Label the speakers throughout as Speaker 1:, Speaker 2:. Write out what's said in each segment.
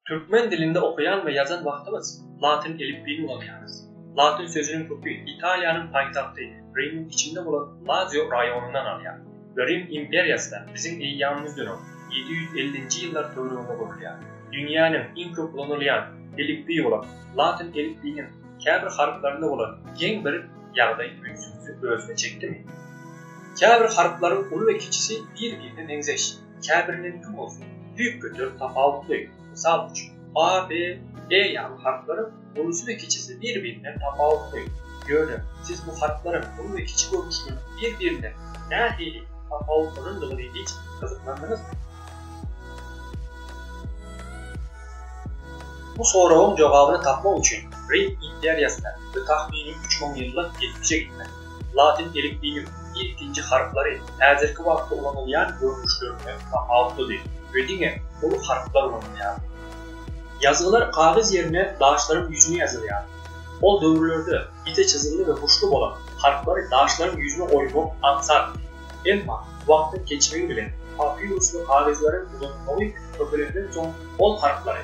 Speaker 1: Türkmen dilinde okaýan we ýazan wagtymyz latyn elipbiýini ulanýarys. Latyn sözüniň köki Italiýanyň paýtagty Rimiň içinde bolan Lazio raýonyndan alýar we Rim imperiýasy da biziň eýýamymyzdan öň, ýedi ýüz ellinji ýyllar töwereginde gurulýar. Dünýäniň iň köp ulanylýan elipbiýi bolan latyn elipbiýiniň käbir harplarynda bolan geň bir ýagdaý ünsüňizi özüne çekdimi? Käbir harplaryň uly we kiçisi bir-birine meňzeş. käbiriniňki bolsa düýpgöter tapawutly, mysal üçin, a, b, e ýaly harplaryň ulusy we kiçisi bir-birinden tapawutly. Ýöne siz bu harplaryň uly we kiçi görnüşleriniň bir-birinden nähili tapawutlanandygyny hiç gyzyklandyňyzmy? Bu soragyň jogabyny tapmak üçin Rim imperiýasyna we tahmini üç müň ýyllyk geçmişe gitmeli. Latyn elipbiýiniň ilkinji harplary häzirki wagtda ulanylýan görnüşlerinden tapawutlydy we diňe uly harplar ulanylýardy. Ýazgylar kagyz ýerine daşlaryň ýüzüne ýazylýardy. Ol döwürlerde ýiti çyzymly we buşly bolan harplary daşlaryň ýüzüne oýmak aňsatdy. Emma wagtyň geçmegi bilen papirus we kagyzlaryň ulanylmagy köpelenden soň ol harplary,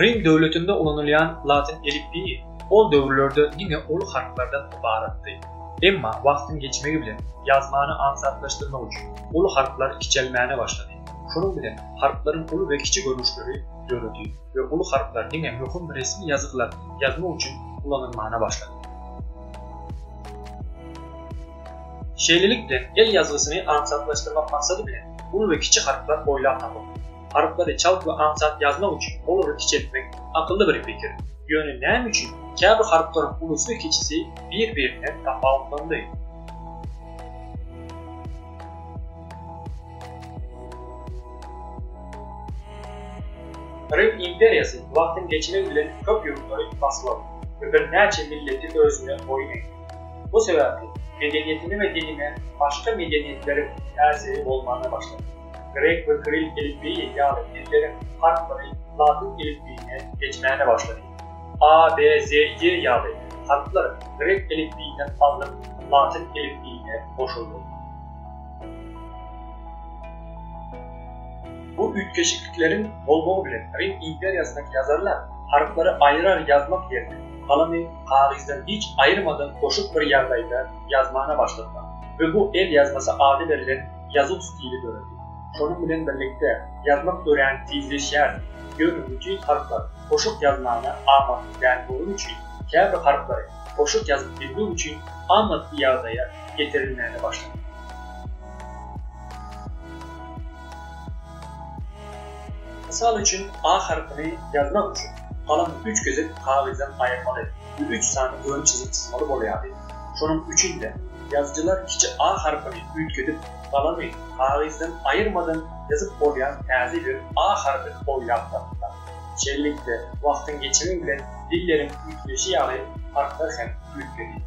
Speaker 1: Rim döwletinde ulanylýan latyn elipbiýi ol döwürlerde diňe uly harplardan ybaratdy. Emma wagtyň geçmegi bilen ýazmany aňsatlaşdyrmak üçin uly harplar kiçelmäne başlady. Şonuň bilen harplaryň uly we kiçi görnüşleri döredi we uly harplar diňe möhüm resmi ýazgylar ýazmak üçin ulanylmana başlady. Şeýlelik bilen el ýazgysyny aňsatlaşdyrmak maksady bilen uly we kiçi harplar oýlap tapyldy. Harplary çalt we aňsat ýazmak üçin olary kiçeltmek akylly bir pikir. Ýöne näme üçin käbir harplaryň ulusy we kiçisi bir-birinden tapawutlandy? Rim imperiýasy wagtyň geçmegi bilen köp ýurtlary basyp aldy we birnäçe milleti özüne boýun egdi. Bu sebäpli medeniýetine we diline başga medeniýetleriň täsiri bolmana başlady. Grek we kiril elipbiýi ýaly dilleriň harplary latyn elipbiýine geçmäne başlady. A, B, Z, Y ýaly harplar grek elipbiýinden alnyp latyn elipbiýine goşuldy. Bu üýtgeşiklikleriň bolmagy bilen Rim imperiýasyndaky ýazarlar harplary aýrar ýazmak ýerine galamy kagyzdan hiç aýyrmadan goşup bir ýagdaýda ýazmana başladylar we bu el ýazmasy ady berlen ýazuw stili döredi. Şonuň bilen birlikde, ýazmak örän tizleşýärdi, ýöne bütin harplar goşuk ýazmaga amatly däl bolany üçin, käbir harplary goşuk ýazyp bilmek üçin amatly ýagdaýa getirilmäge başlandy. Mysal üçin, A harpyny ýazmak üçin, galamy üç gezek kagyzdan aýyrmaly we üç sany ön çyzyk çyzmaly bolýardy. Şonuň üçin-de, Ýazyjylar kiçi a harpyny üýtgedip, galamy kagyzdan aýyrmadan ýazyp bolýan täze bir a harpyny oýlap tapdylar. Şeýlelikde, wagtyň geçmegi bilen dilleriň üýtgeşi ýaly harplar hem üýtgedi.